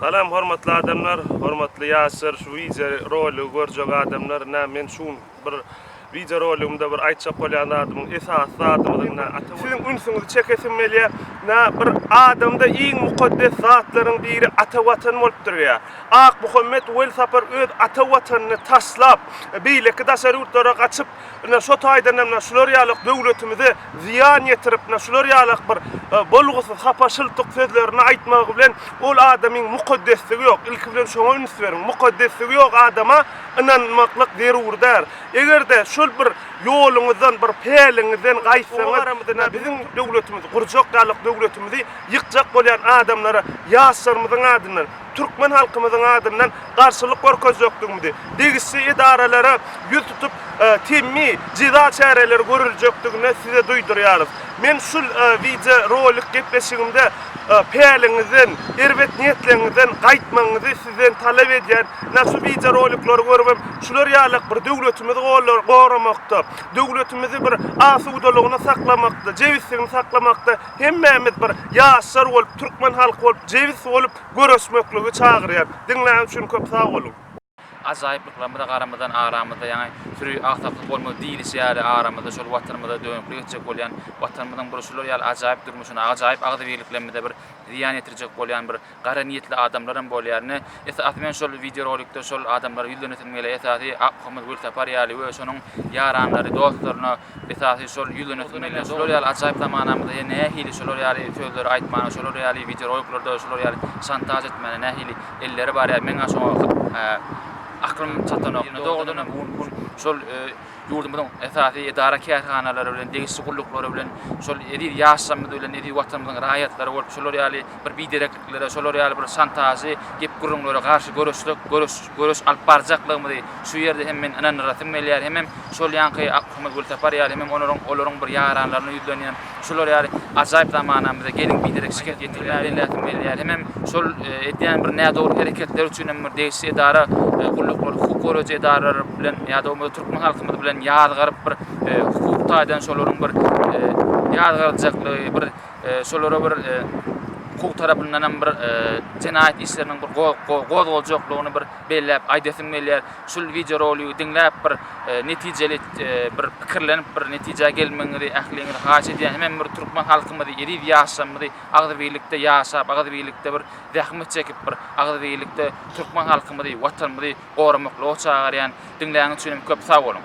Salam hormatly adamlar hormatly ýaşlar şu wideo roligi görjek adamlar na men şu gün bir wideo roligimde bir aýtjak bolýan zadymyň esasy zadymyzyň na siziň ünsüňizi çekesim gelýä na bir adamda iň mukaddes zatlaryň biri ata watan bolup durýa Akmuhammet welsapar öz ata watanyny taşlap beýleki daşary ýurtlara gaçyp Ine, şo taýdan hem şular ýaly döwletimize zyýan ýetirip, şular ýaly bir bolgusyz, hapa, şyltyk sözlerini aýtmagy bilen ol adamyň mukaddesligi ýok. Ilki bilen şoňa üns beriň. Mukaddesligi ýok adama ynanmaklyk zerur däl. Eger-de şol bir ýoluňyzdan, bir päliňizden gaýtsaňyz, ine, biziň döwletimizi gurjak ýaly döwletimizi ýykjak bolýan adamlara ýaşlarymyzyň adyndan, türkmen halkymyzyň adyndan garşylyk görkezjekdigimizi, degişli edaralara ýüz tutup, temmi jeza çäreleri görüljekdigini size duýdurýarys. Men şul wideo rolik gepleşigimde päliňizden, erbet niýetleňizden gaýtmagyňyzy sizden talap edýän. Ynha şu wideo roliklary görübem şular ýalak bir döwletimizi goramakda, döwletimizi bir asudalygyny saklamakda, jebisligini saklamakda, Hemmämiz bir ýaşlar bolup türkmen halky bolup jebis bolup göreşmekligi çagyrýan. Diňlän üçin köp sag boluň. Ajaýyplyklarymyza garamazdan aramyzda ýaňy süri agsaklyk bolmaz diýilişi ýaly aramyzda şol watanymyza dönüklik etjek bolýan watanymyzyň bir şular ýaly ajaýyp durmuşyna ajaýyp agzybirliklerimize bir zyýan ýetirjek bolýan bir Gara niýetli adamlaram bolýar ine esasy men şol wideo rolikde şol adamlara ýüzlenesim gelýär esasy Akmuhammet Welsapar ýaly we şonuň ýaranlary dostlaryna esasy şol ýüzlenesim gelýär şolar ýaly ajaýyp zamanamyzda ýa nähili şolar ýaly sözleri aýtmana şolar ýaly wideo roliklarda şolar ýaly şantaž etmäne nähili elleri bar ýa meň-ä şoňa aklym çatanok ine dogrudanam şol ýurdumyzyň esasy edara-kärhanalary bilen, degişli gulluklary bilen, şol eziz ýaşlarymyz bilen, eziz Watanymyzyň raýatlary bolup, şolar ýaly bir biderekliklere, şolar ýaly bir şantažly gep-gürrüňlere garşy göreşsek, göreş, göreş alyp barjaklygymyzy şu ýerde hem men ynandyrasym gelýär, hemem şol ýaňky Akmyrat Gülsapar ýaly, hemem olaryň, olaryň bir ýaranlaryna ýüzlenýän, Şular ýaly ajaýyp zamanamyzda gelin biderek şikes ýetirmäge elläsin berýär hemem şol edýän bir nädogry hereketleri üçin hem bir degişli edara gulluklar hukuk goraýjy edaralar bilen ýa-da bolmasa türkmen halkymyz bilen ýazgaryp bir hukuk taýdan şolaryň bir ýazgaryljaklygy bir şolara bir hukuk tarapyndan hem bir jenaýat işleriniň bir gozgaljaklygyny bir belläp aýdasym gelýär. Şul wideo rolygy diňläp bir netijeli bir pikirlenip bir netijä gelmegiňizi ähliňizi haýyş edýän hemem bir türkmen halkymyzy eziz ýaşlarymyzy agzybirlikde ýaşap agzybirlikde bir zähmet çekip bir agzybirlikde türkmen halkymyzy watanymyzy goramaklyga çagyrýan diňläňiz üçinem köp sag boluň.